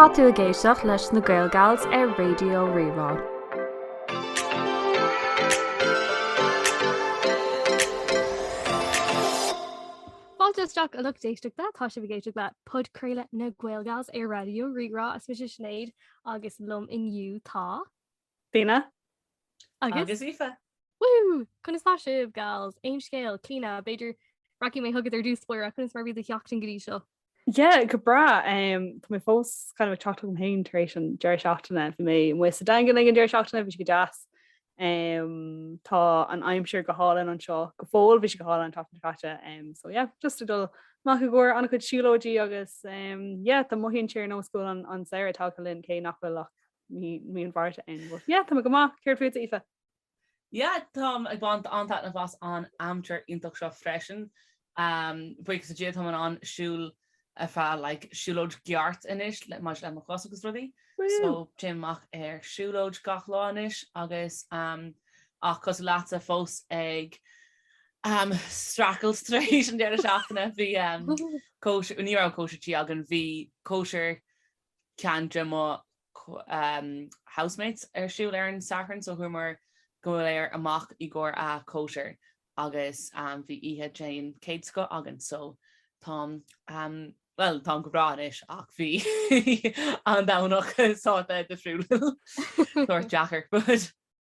Tá tú ag éisteacht leis na Gaelgals ar Raidió Rí-Rá. Fáilte isteach a lucht éisteachta, tá sibh ag éisteacht le Podchraoladh na Gaelgals ar Raidió Rí-Rá, is mise Sinéad agus liom inniu tá. Clíona. Agus. Agus Aoife. Woohoo! Conas tá sibh, gals? Aon scéal? Clíona, b'fhéidir rachaidh mé chugat ar dtús báire, conas mar a bhí do sheachtain go dtí seo? Yeah, go breá. Um, tá mé fós kind of ag teacht chugam féin tar éis an deireadh seachtaine. Bhí mé amuigh sa Daingean ag an deireadh seachtaine, bhí sé go deas. Um, tá an aimsir go hálainn anseo go fóill, bhí sé go hálainn an tseachtain seo caite. Um, so yeah, just ag dul amach i gcomhair an-chuid siúlóidí agus um, yeah, tá mothaíonn sé ar nós go bhfuil an, an saoire tagtha chugainn cé nach bhfuil ach mí an Mhárta ann go fóill. Yeah, tá go maith, céard fút Aoife? Yeah, táim ag baint an-taitneamh as an aimsir iontach seo freisin. Buíochas le Dia, táim in ann siúl ar feadh like siúlóid cheart anois maidir le mo chos agus rudaí. So téim amach ar siúlóid gach lá anois agus ach cosúil leatsa fós ag streachailt tar éis an deireadh seachtaine. Bhí cóisir, ní raibh cóisir tí againn, bhí cóisir ceann de mo housemates ar siúl ar an Satharn so chuamar go léir amach i gcomhair a' cóisir agus bhí oíche den chéad scoth againn so táim bhuel táim go breá anois ach bhí an Domhnach saghas difriúil sórt deacair but.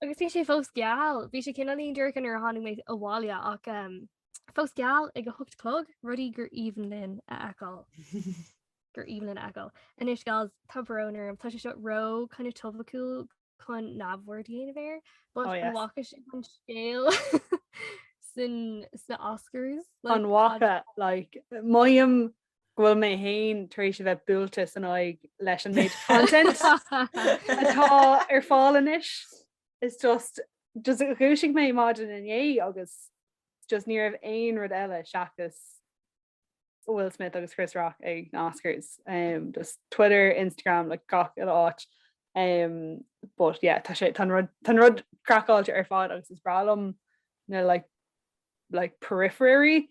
Agus bhí sé fós geal, bhí sé cineáilín dorcha nuair a tháinig mé abhaile ach fós geal ag a hocht a chlog, rudaí gur aoibhinn linn a fheiceáil. gur aoibhinn linn a fheiceáil. Anois gals tá brón orm, tá sé seo ró kinda topaiciúil chun neamhaird a dhéanamh air, but an bhfaca sibh an scéal san sna Oscars. An bhfaca, like, mothaím go bhfuil mé féin tar éis a bheith buailte san aghaidh leis an méid content atá ar fáil anois. Is just just dhúisigh mé maidin inné agus just ní raibh aon rud eile seachas Will Smith agus Chris Rock ag na Oscars. Um, just Twitter, Instagram, like gach uile áit. Um, but yeah, tá sé tá an rud tá an rud craiceáilte ar fad agus is breá liom na like like periphery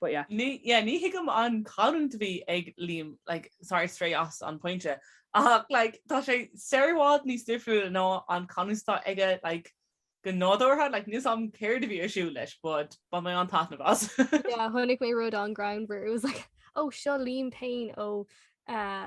but yeah. Ní, yeah, ní thuigim an chanúint a bhí ag Liam, like, sorry to stray as an pointe, ach, like, tá sé sórt i bhfad níos difriúla ná an canúint atá aige, like, go nádúrtha, like, níl 's am céard a bhí ar siúl leis, but bhain mé an-taitneamh as. Yeah, chonaic mé rud an-greannmhar, it was like, oh, seo Liam Payne ó, eh,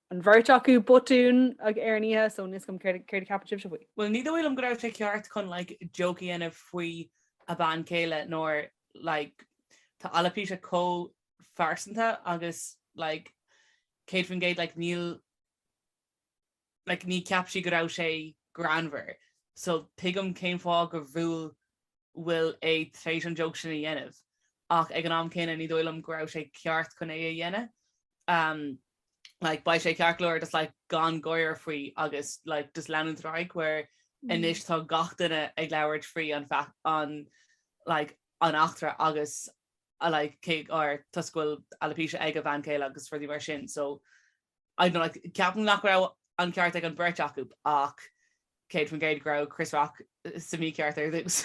an bheirt acu botún ag ar an oíche so níl a fhios agam céard a cheapann sibhse faoi. Bhuel ní dóigh liom go raibh sé ceart chun like joke a dhéanamh faoi a bhean chéile nuair like tá alopecia chomh phearsanta agus like 100% like níl like ní cheap sí go raibh sé greannmhar so tuigim cén fáth go bhfuil bhfuil é tar éis an joke sin a dhéanamh ach ag an am céanna ní dóigh liom go raibh sé ceart chun é a dhéanamh. like beidh sé ceart go leor just like gan gáire faoi agus like just leanúint ar aghaidh where anois tá gach duine ag labhairt faoi an fac- an like an eachtra agus a like cé or toisc go bhfuil alopecia ag a bhean chéile agus rudaí mar sin so I don't know like ceapaim nach raibh an ceart ag an bheirt acu ach 100% go raibh Chris Rock uh, sa mícheart ar dtús.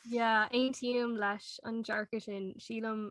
Yeah, aontaím leis an dearcadh sin sílam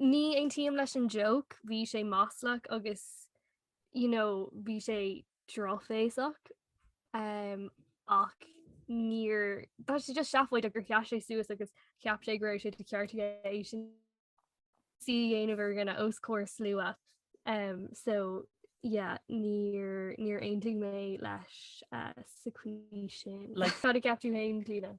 ní aontaím leis an joke, bhí sé maslach agus you know, bhí sé drochbhéasach um, ach níor tá sé just seafóideach gur sheas sé suas agus cheap sé go raibh sé de cheart aige é sin a dhéanamh ar gona os comhair slua um, so yeah, níor níor aontaigh mé leis uh, sa chaoi sin le fad a ceapú hain lína.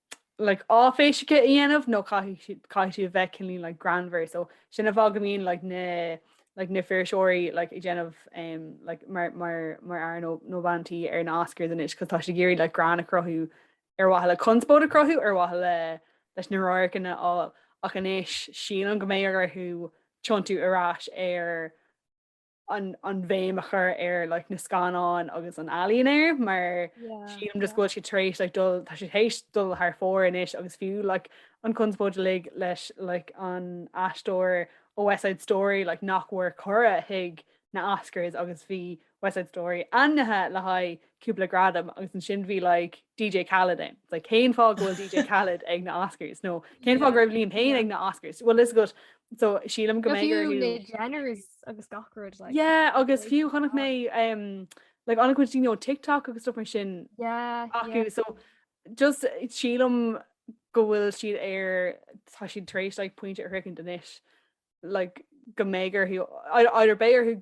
like áiféiseach a dhéanamh nó caithfidh tú caithfidh tú a bheith cineál like greannmhar so sin an fáth go mbíonn like na like na fuirseoirí like ag déanamh um, like mar mar mar fhear nó nó bhean tí ar na Oscars anois cos tá siad ag iarraidh like greann a chruthú ar mhaithe le conspóid a chruthú ar mhaithe le leis na radharcanna a fháil ach anois sílim go mbeidh orthu tiontú ar ais ar an bhéim a chur ar like, na scannáin agus an ealaín air mar yeah, sílim just go bhfuil sé tar éis like, dul tá sé tar éis dul thar fóir anois agus fiú like, an conspóid uilig leis like, an aisteoir ó West Side Story like, nach bhfuair cuireadh chuig na Oscars agus bhí West Side Story ainmnithe le haghaidh cúpla gradam agus ansin bhí like DJ Khaled ann. It's like cén fáth go bhfuil DJ Khaled ag na Oscars nó cén fáth go raibh Liam Payne ag na Oscars. Bhfuil a fhios agat so sílim go mbeidh orthu Jenners agus gach rud like. Yeah agus fiú chonaic mé um, like an-chuid daoine ó TikTok agus stuff mar sin acu so just sílim go bhfuil siad ar tá siad tar éis like pointe a shroichint anois like go mbeidh orthu either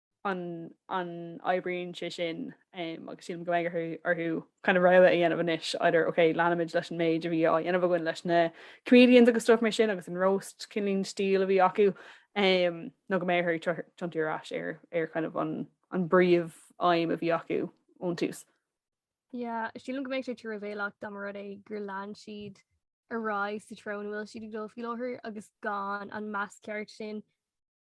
an an oibríonn sé sin agus sílim go mbeidh orthu kind of rogha a dhéanamh anois either ok leanfaimid leis an méid a bhí á dhéanamh againn leis na comedians agus stuff mar sin agus an roast cineál style a bhí acu um, nó go mbeidh orthu tiontú ar ais ar, ar kind of an, an bpríomhaidhm a bhí acu ón tús. Yeah, sílim go mbeadh sé truamhéalach dá mba rud é gur lean siad ar aghaidh sa treo ina bhfuil siad ag dul faoi láthair agus gan an meas ceart sin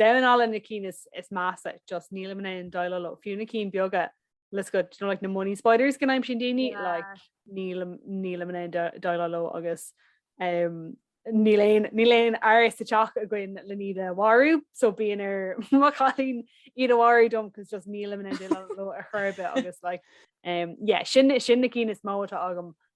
Damháin alla na cinn is measa, just nílim in ann déileáil leo. Fiú na cinn beaga, let's go, do you know, like na money spiders go n-aimsíonn daoine, like nílim, nílim in ann déileáil leo agus ehm níl aon, níl aon fhear sa teach againn len iad a mharú, so bíonn ar mo chailín iad a mharú dom cos just nílim in ann déileáil leo ar chor ar bith agus like ehm yeah, sin, sin na cinn is mó atá agam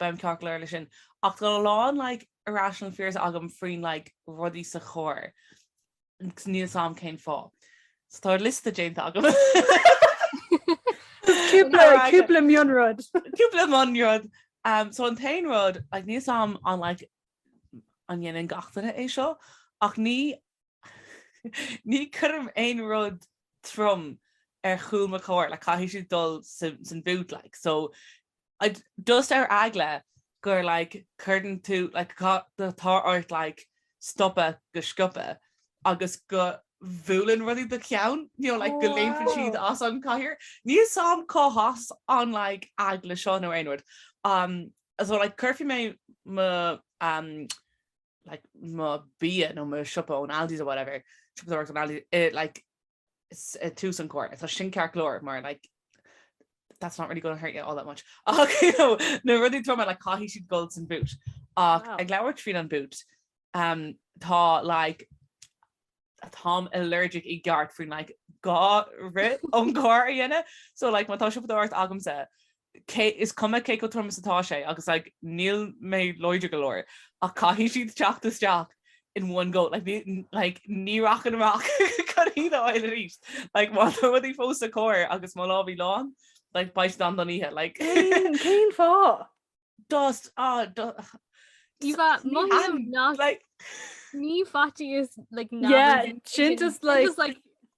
Beidh mé ceart go leor leis sin. Ach tá a lán like irrational fears agam faoin like rudaí sa charr. Níl 's am cén fáth. So tá liosta déanta agam. Cúpla mionrud. Cúpla mionrud. So an t-aon rud, like níl 's am an like an ndéanann gach duine é seo? Ach ní ní cuirim aon rud trom ar chúl mo charr, like caithfidh siad dul san bhút like. So Just ar eagla gur like cuireann tú like tá ort like stopadh go sciobtha agus go bhuaileann rudaí do cheann you know like go léimeann siad as an chathaoir. Níl 's am cá has an like eagla seo nó aon rud um so like cuirfidh mé mo um like mo bia nó mo siopa ón Aldi's or whatever siopadóireacht ón Aldi's i like tús an cór tá sin cear glóir mar like that's not really going to hurt you all that much okay, no, no really throw like how he should golds and boot uh wow. like lower tree on boot um ta like a tom allergic i guard for like ga ri on gar in it so like my tasha dart agam set Cé is cuma cé chomh trom is atá sé, agus like níl mé láidir go leor, ach caithfidh siad teacht isteach in one go, like ní, like ní rachainn amach chun iad a fháil arís. Like má tá rudaí fós sa carr agus mo lámhaí lán, like beidh siad ann don oíche, like. Cén, cén fáth? Just, ah, just. Diva, mothaím nach, ní faitíos, like, neamhaird. Yeah, sin just like.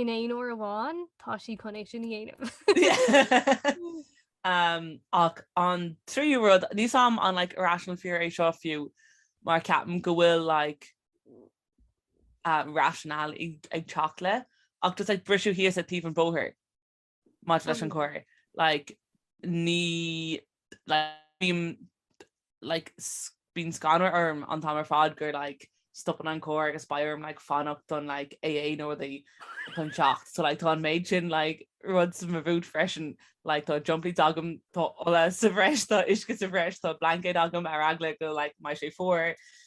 In aon uair amháin, tá sí chun é sin a dhéanamh. um, ach an tríú rud, níl 's am an like, irrational fear é seo fiú, mar ceapaim go bhfuil like, uh, rationale ag, ag teacht le, ach just like, briseadh thíos ag taobh an bóthair. maidir leis an gcarr, like, ní, like, bím, like, bíonn scanradh orm an t-am ar fad gur, like, stopann an carr agus beidh orm, like, fanacht don, like, AA nó rudaí chun teacht. So, like, tá an méid sin, like, rud sa mo bhút freisin, like, tá jump-leads agam, tá ola sa bhreis, tá uisce sa bhreis, tá blaincéad agam ar eagla go, like, mbeidh sé fuar.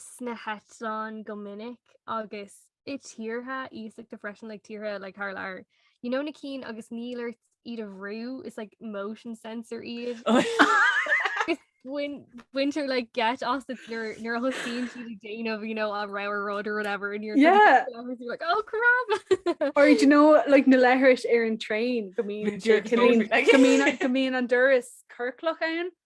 sna heitleáin go minic agus i tíortha iasachta freisin, like tíortha like thar lear. You know na cinn agus níl ort iad a bhrú, is like motion sensor iad. Is bain- baintear like geit asat nuair nuair a thosaíonn siad ag déanamh, you know, a roar rud or whatever and you're Yeah. you're like, oh crap! Or do you know like na leithris ar an train go mbíonn, go mbíonn, go mbíonn an doras ciorclach ann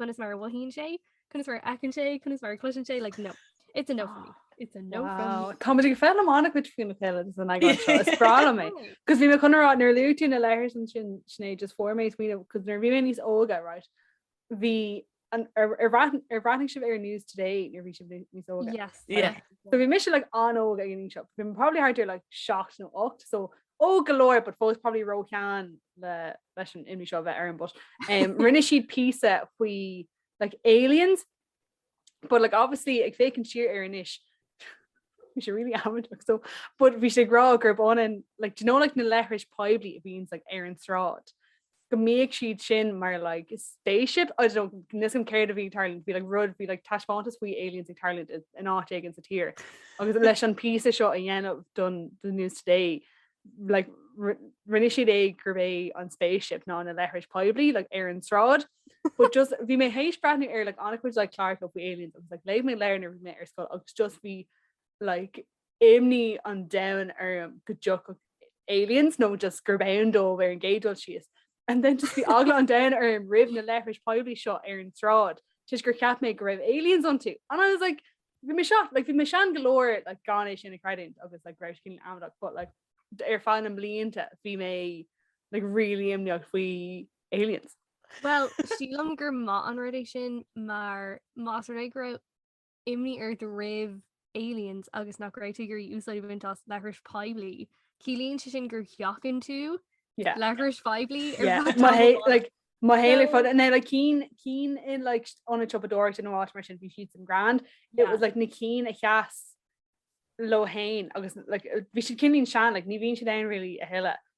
conas mar a mhothaíonn sé, conas mar a fheiceann sé, conas mar cloiseann sé like no. It's a no for me. It's a no for me. Tá muid ag foghlaim an-chuid faoina chéile san eagrán seo, is breá liom é. Cos bhí mé chun a rá nuair a luaigh tú na leithris ansin sin é just fuair mé smaoineamh cos nuair a bhí mé níos óga right. Bhí an- ar ar bhreath- ar bhreathnaigh sibh ar news today nuair a bhí sibh ní- níos óga. Yes. Yeah. So bhí mise like an-óg ag an seo. Bhí mé probably thart ar like 7 nó 8 so óg go leor but fós probably róshean leis an imní seo a bheith orm but. Um, rinne siad písa faoi like, aliens, but like, obviously ag féachaint siar air anois bhí sé really amateur so but bhí sé ag rá gurb ionann like, do you know like na leithris poiblí a bhíonns like, ar an tsráid. go mbíodh siad sin mar like spaceship, I don't know, níl a fhios agam céard a bhí ag tarlúint, bhí like rud, bhí like taispeántas faoi aliens ag tarlúint i, in áit éigin sa tír. Agus leis an píosa seo a dhéanamh don the news today, like ri- rinne siad é gurb é an spaceship ná na leithris poiblí like ar an tsráid. But just, bhí mé théis breathnú ar like an-chuid like cláracha faoi aliens agus like léigh mé leabhair nuair a bhí mé ar scoil agus just bhí like Imní an domhain orm go dtiocfadh aliens, nó just gurb ann dóibh ar an gcéad dul síos. And then just bhí eagla an domhain orm roimh na leithris poiblí seo ar an tsráid toisc gur cheap mé go raibh aliens iontu. And I was like, bhí mé 7, like bhí mé sean go leor like gan é sin a chreidiúint agus like go raibh sé cineál amaideach, but like ar feadh na mblianta bhí mé like really imníoch faoi aliens. Well, sílim gur maith an rud é sin mar más rud é go raibh imní ort roimh aliens agus nach raibh tú ag iarraidh úsáid a bhaint as leithris poiblí. Ciallaíonn sé sin gur sheachain tú yeah. leithris poiblí ar yeah. fad. Má hé like, má hé le fod na like cinn cinn in like ionad siopadóireachta nó áit mar sin bhí siad san grand. It yeah. was like na cinn a sheas leo féin agus like, bhí siad cineáilín sean, like, ní bhíonn siad ann really a thuilleadh.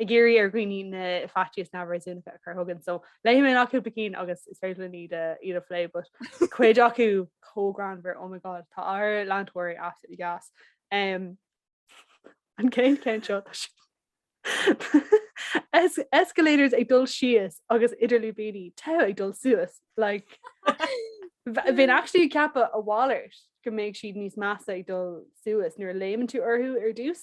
ag iarraidh ar dhaoine na faitís neamhréasúnacha a chur chugainn. So léifidh mé amach cúpla cinn agus is féidir linn iad iad a phlé, but cuid acu chomh greannmhar, oh my God, tá ár leantóirí absolutely gas. Um, an chéad cheann seo tá si- Es- escalators ag dul síos agus idir lúibíní tá ag dul suas, like bh- bheinn actually ag ceapadh a mhalairt go mbeidh siad níos measa ag dul suas nuair a léimeann tú orthu ar dtús.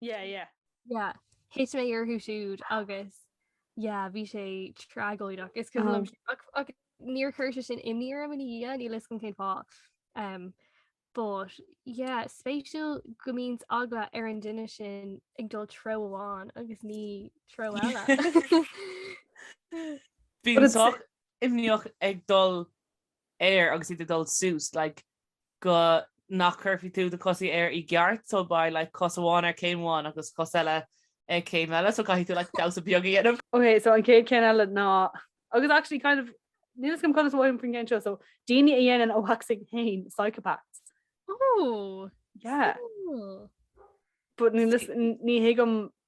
Yeah, yeah. Yeah, thit mé orthu siúd agus yeah, bhí sé tragóideach. Is cuimhin liom sin. Ach- ach níor chuir sé sin imní orm ina dhiaidh, níl a fhios agam cén fáth. Um, but yeah, spéisiúil go mbíonns eagla ar an duine sin ag dul treo amháin agus ní treo eile. But Bheinn it's- sách imníoch ag dul air agus iad ag dul suas like go nach gcuirfidh tú do chosaí air i gceart so beidh like cos amháin ar céim amháin agus cos eile ag céim eile so caithfidh tú like damhsa beag a dhéanamh. Ok so an chéad ceann eile ná, agus actually kind of níl fhios agam conas a bhraithim faoin gceann seo, so daoine a dhéanann a waxing féin, psychopaths. Oh yeah cool. But ní thuigim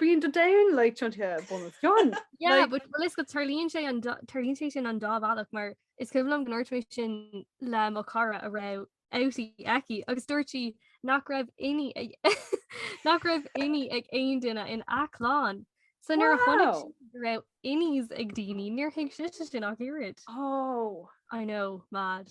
Bíonn do domhan like tiontaithe bunoscionn. Yeah, but bhfuil fhios agat tarlaíonn sé an tarlaíonn sé sin an dá bhealach mar is cuimhin liom go ndúirt mé sin le mo cara a raibh outie aici agus dúirt sí nach raibh innie nach raibh innie ag aon duine ina clann. So nuair a chonaic Wow. sí go raibh innies ag daoine níor thuig sí sin ach oiread. Oh. I know, mad.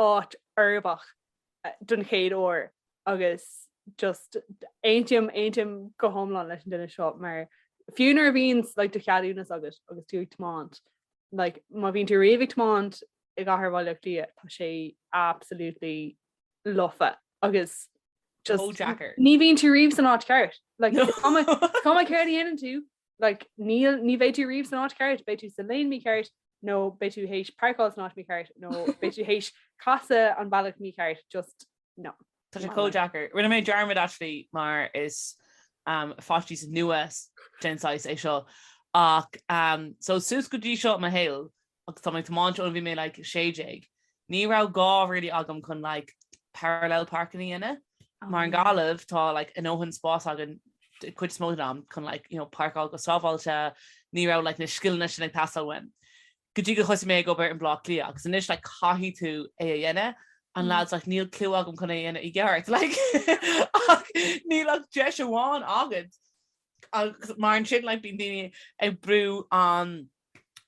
áit uirbeach don chéad uair agus just aontaím, aontaím go hiomlán leis an duine seo mar fiú nuair a bhíonn like, do cheadúnas agat agus tú ag tiomáint, like, má bhíonn tú riamh ag tiomáint i gcathair Bhaile Átha Cliath tá sé absolutely lofa agus just, ní bhíonn tú riamh san áit ceart. Like, cuma céard a dhéanann tú like, níl, ní bheidh tú riamh san áit ceart, beidh tú sa lane mícheart, nó beidh tú théis páirceáil san áit mícheart, nó beidh tú théis casadh an bealach mícheart, just no. Tá sé chomh deacair. Rinne mé dearmad actually mar is um, faitíos nua den saghas é seo ach um, so suas go dtí seo mo shaol Agus tá mé ag tiomáint óna bhí mé like a sé déag, ní raibh gá really agam chun like parallel parking a dhéanamh. Mar i nGaillimh tá like a ndóthain spás againn cuid is mó den am chun like, you know, páirceáil go sábháilte, ní raibh like na scileanna sin ag teastáil uaim go dtí go thosaigh mé ag obair i mBleá Cliath agus anois like caithfidh tú é a dhéanamh and lads like níl clue agam chun é a dhéanamh i gceart like ach níl ach deis amháin agat mar ansin like bíonn daoine ag brú an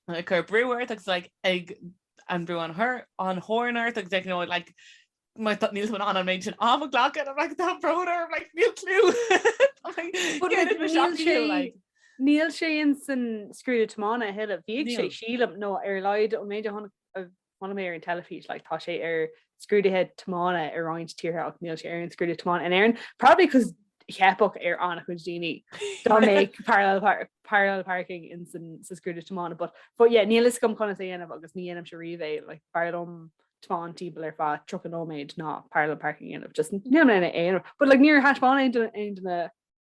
ag cur brú ort agus like ag an brú an chur an horn ort agus like you know like mar tá- níl tú in ann an méid sin am a glacadh I'm like tá brón orm like níl clue But, like, Céard is mo níl seacht sé- clue like Níl sé in san scrúdú tiomána a thuilleamh, bhíodh sé Níl. sílim nó ar a laghad ón méid a chonaic Chonaic mé ar an teilifís, like, tá sé ar scrúduithe tiomána i roinnt tíortha ach níl sé ar an scrúduithe tiomána in Éirinn, probably because theipfeadh ar an-chuid daoine dá mbeadh parallel par- parallel parking in san sa scrúduithe tiomána, but but yeah, níl fhios agam conas é a dhéanamh agus ní dhéanaimse riamh é, like, b'fhearr liom tiomáint timpeall ar feadh 30 nóiméad ná parallel parking a dhéanamh, just níl mé in ann é a dhéanamh, but like níor thaispeáin aon duine aon duine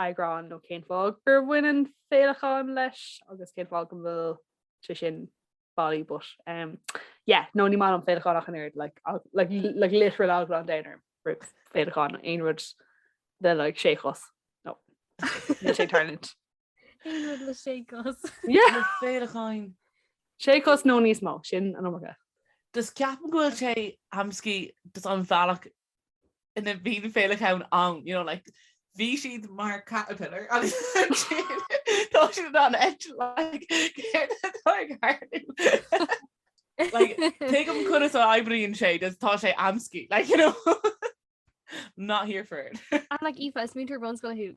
eagrán nó cén fáth gur bhaineann féileacáin leis agus cén fáth go bhfuil sé sin bailí but um, yeah, nó ní maith liom féileacáin ach an oiread like, ag- like, li- like literal eagla an domhain orm roimh féileacáin aon rud le like sé chos nó le sé tarlint. Aon rud le sé cos. Yeah, Le féileacáin. sé cos nó níos mó sin an iomarca. Just ceapaim go bhfuil sé amscaí just an bealach bhí na féileacáin ann, you know, like, bhí siad mar caterpillar agus tá siad an et, like, céard atá ag tharlú? like, tuigim conas a oibríonn sé, just tá sé amscaí, like, you know, not here for it. I'm like, Aoife, is múinteoir bunscoile thú,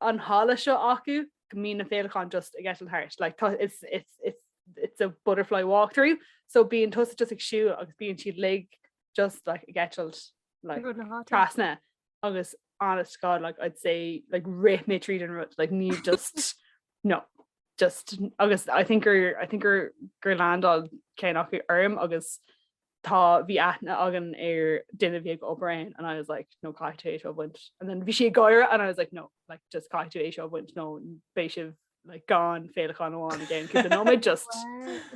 an halla seo acu go mbíonn na féileacáin just ag eitilt thart like, it's, it's, it's, it's a butterfly walkthrough so bíonn tusa just ag siúl agus bíonn siad uilig just like, ag eitilt like, trasna agus honest God like I'd say like rith mé tríd an rud like ní just no just agus I think er I think er gur landáil ceann acu orm agus tá, bhí aithne againn ar duine a bhí ag obair ann and I was like no caithfidh tú é seo a bhaint and then bhí sí ag gáire and I was like no like just caithfidh tú é seo a bhaint nó beidh sibh like gan féileacán amháin i gceann cúpla nóiméad just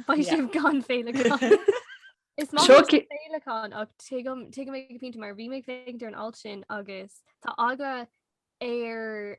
Beidh Yeah. sibh gan féileacán. Is maith liom Seo ci- féileacáin ach tuigim tuigim go pointe mar bhí mé ag féachaint ar an alt sin agus tá eagla ar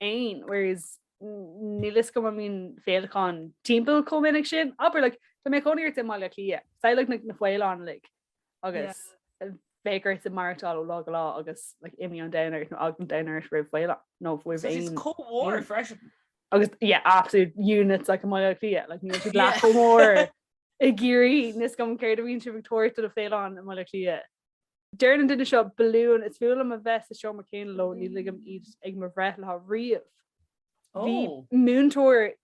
fhéin whereas níl fhios agam an mbíonn féileacáin timpeall chomh minic sin, abair like dá mbeadh cónaí ort i mBaile Átha Cliath, say like na, na faoileáin like agus bheadh ort ag maireachtáil ó lá go lá agus like imní an domhain ort nó eagla an domhain ort roimh faoileáin nó roimh So is aon chomh mór freisin. agus yeah absolute units like i mBaile Átha Cliath like níl siad leath Yeah. chomh mór i gCiarraí níl fhios agam céard a bhíonn sibh ag tabhairt do na faoileáin i mBaile Átha Cliath Deireann an duine seo, balúin, is fuath liom a bheith sa seomra céanna leo, ní ligim iad ag mo bhreithlá riamh. Bhí múinteoir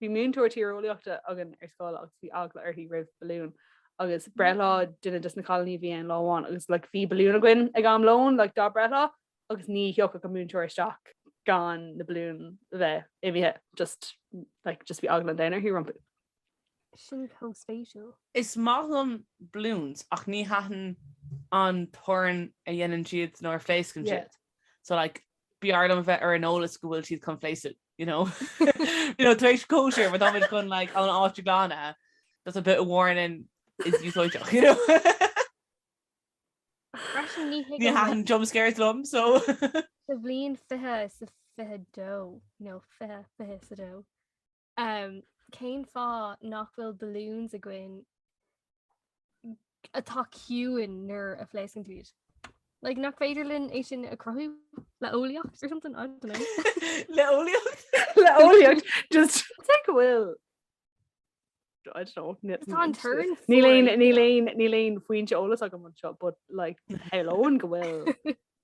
bhí múinteoir tíreolaíochta againn ar scoil agus bhí eagla uirthi roimh balúin agus breithlá duine dos na cailíní a bhí ann lá amháin agus like bhí balúin againn ag am lóin like dá breithlá agus ní thiocfadh an múinteoir isteach gan na balúin a bheith imithe just like just bhí eagla an domhain uirthi rompu. sin chomh spéisiúil. Is maith liom balloons ach ní thaitníonn an torann a dhéanann siad nuair a phléascann siad. So like b'fhearr liom a bheith ar an eolas go bhfuil siad chun phléascadh, you know. You know tar éis cóisir má táimid chun like an áit a ghlanadh that's a bit of warning is úsáideach, you know. Freisin ní thuigim. Ní thaitníonn jump scares liom so. Sa bhliain 2022, no 2022, Umm cén fáth nach bhfuil balloons againn atá ciúin nuair a phléascann tú iad? Like nach féidir linn é sin a chruthú le eolaíocht or something, I don't know. Le eolaíocht? Le eolaíocht just Sé go bhfuil I don't know, ni- Tá an turn Níl aon níl aon níl aon foinse eolais agam anseo, but like a lán go bhfuil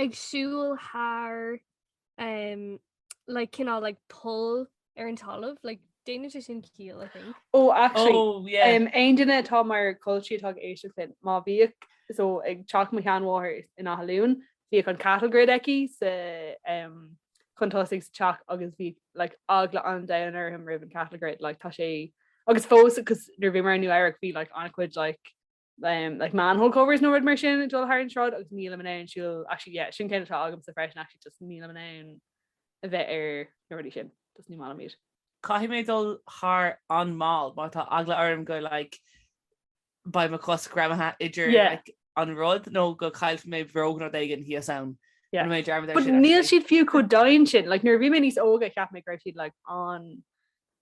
ag siúl thar um, like cineál like poll ar an talamh, like déanann sé sin ciall I think. Ó actually, Oh, yeah. um, aon duine atá mar culchie atá ag éisteach linn, má bhíodh so ag teach mo sheanmháthar in Áth Luain, bhíodh an cattle grid aici sa um, chun tosaigh sa teach agus bhí like, eagla an domhain orm roimh an cattle grid, like, tá sé agus fós agus nuair bhíomar in Nua Eabhrac bhí like, an-chuid like, um, like manhole covers nó rud mar sin ag dul thar an sráid agus níl mé in ann siúl actually yeah, sin cineál atá agamsa freisin actually just níl mé in ann a bheith ar na rudaí sin just ní maith liom iad. Caithfidh mé dul thar an-mhall mar tá eagla orm go like beidh mo chos greamaithe idir Yeah. like, an rud nó go gcaillfidh mé bróg nó rud éigin thíos ann. Yeah. An mé dearmad ar But sin, níl actually. siad fiú chomh domhain sin, like nuair a bhí mé níos óige cheap mé go raibh siad like an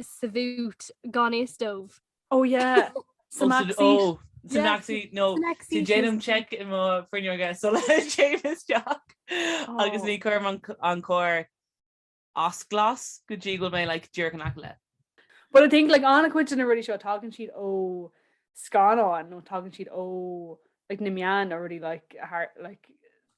sa bhoot gan fhios dom. Oh yeah, sa mback seat. Sa mback seat, nó so déanaim check i mo fhuinneoga sula dtéim isteach agus ní chuirim an carr as glas go dtí go bhfuil mé like díreach in aice le. But I think like an-chuid de na rudaí seo tagann siad ó scannáin nó tagann siad ó like na meáin nó rudaí like a thar like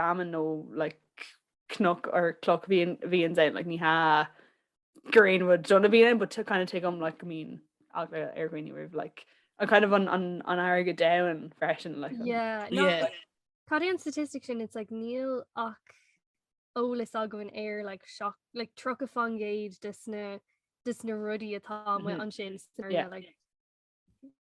feamainn nó like cnoc or cloch bhí an bhí an dein like, ní hea gur aon rud dona bhí ann but kind of take um like go mbíonn eagla ar dhaoine roimh like an kind of an an an fharraige domhain freisin like an- yeah no yeah like Cad é an statistic sin it's like níl ach eolas againn ar like seach like tríocha faoin gcéad de sna de sna rudaí atá amuigh Mhm. ansin sna Yeah. like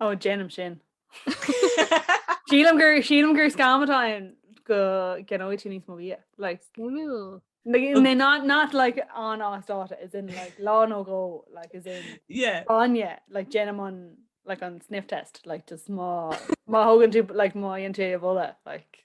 Ó, déanaim sin. Sílim gur sílim gur scam atá ann go gceannóidh tú níos mó bia. Like, Ooh. like, they're not, not like an-as dáta, is in like lá nó dhó, like is in Yeah. bainne, like déanaim an like an sniff test, like just má má thugann tú like má dhéanann tú é a bholadh, like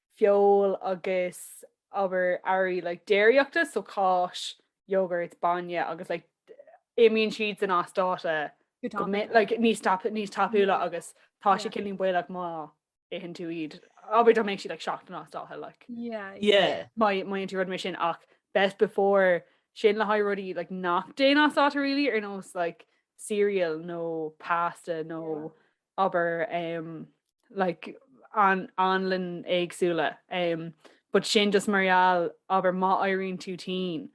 feoil agus abair earraí like déiríochta, so cáis, yogurt, bainne agus like imíonn siad san as dáta go minic, like níos tapa, níos tapúla agus tá sé cineál baolach má itheann tú iad, abair dá mbeadh siad like seachtain as dáta like má dhéanann tú rud mar sin ach best before sin le haghaidh rudaí like nach dtéann as dáta really ar nós like cereal nó pasta nó abair um like anlainn éagsúla um but sin just mar gheall abair má éiríonn tú tinn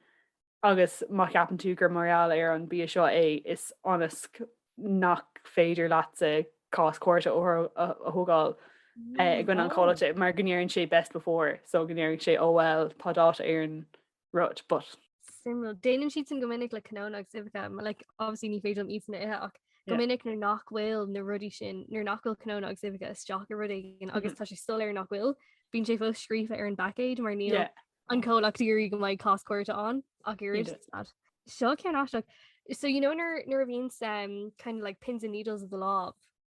agus má cheapann tú gur mar gheall ar an bia seo é is ionas nach féidir leatsa cás cúirte a thógáil eh, i gcoinne an chomhlacht mar go ndeireann sé best before so go ndeireann sé oh well tá dáta ar an rud, but. suimiúil. Déanann siad sin go minic le cnónna agus uibheacha, mar like, obviously ní féidir liom iadsan ithe ach go Yeah. minic nuair nach bhfuil na rudaí sin nuair nach bhfuil cnónna agus uibheacha isteach i rud éigin Mhm. agus tá sé soiléir nach bhfuil, bíonn sé fós scríofa ar an bpaicéid mar níl Yeah. an comhlacht ag iarraidh go mbeidh cás cúirte ann ach Ní iris dóigh. slad. Seo ceann aisteach. So you know nuair nuair a bhíonns um, kind of like pins and needles i do lámh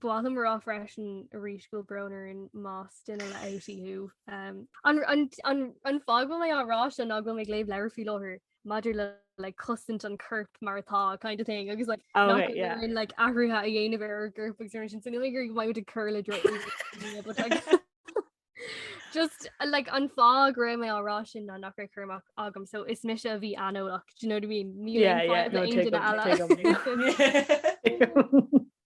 Ba mhaith liom a rá freisin arís go bhfuil brón orainn más duine le OT thú. An fáth go bhfuil mé á rá seo ná go bhfuil mé ag léamh leabhair faoi láthair maidir le like cosaint an coirp mar atá kind of thing agus like oh, right, yeah. in, like athruithe a dhéanamh ar ár gcoirp agus sin so ní go raibh muid ag cur le dro just uh, like an fáth go raibh mé á rá sin ná nach chumach agam so is mise a bhí aineolach do you know what I mean ní yeah, yeah, no,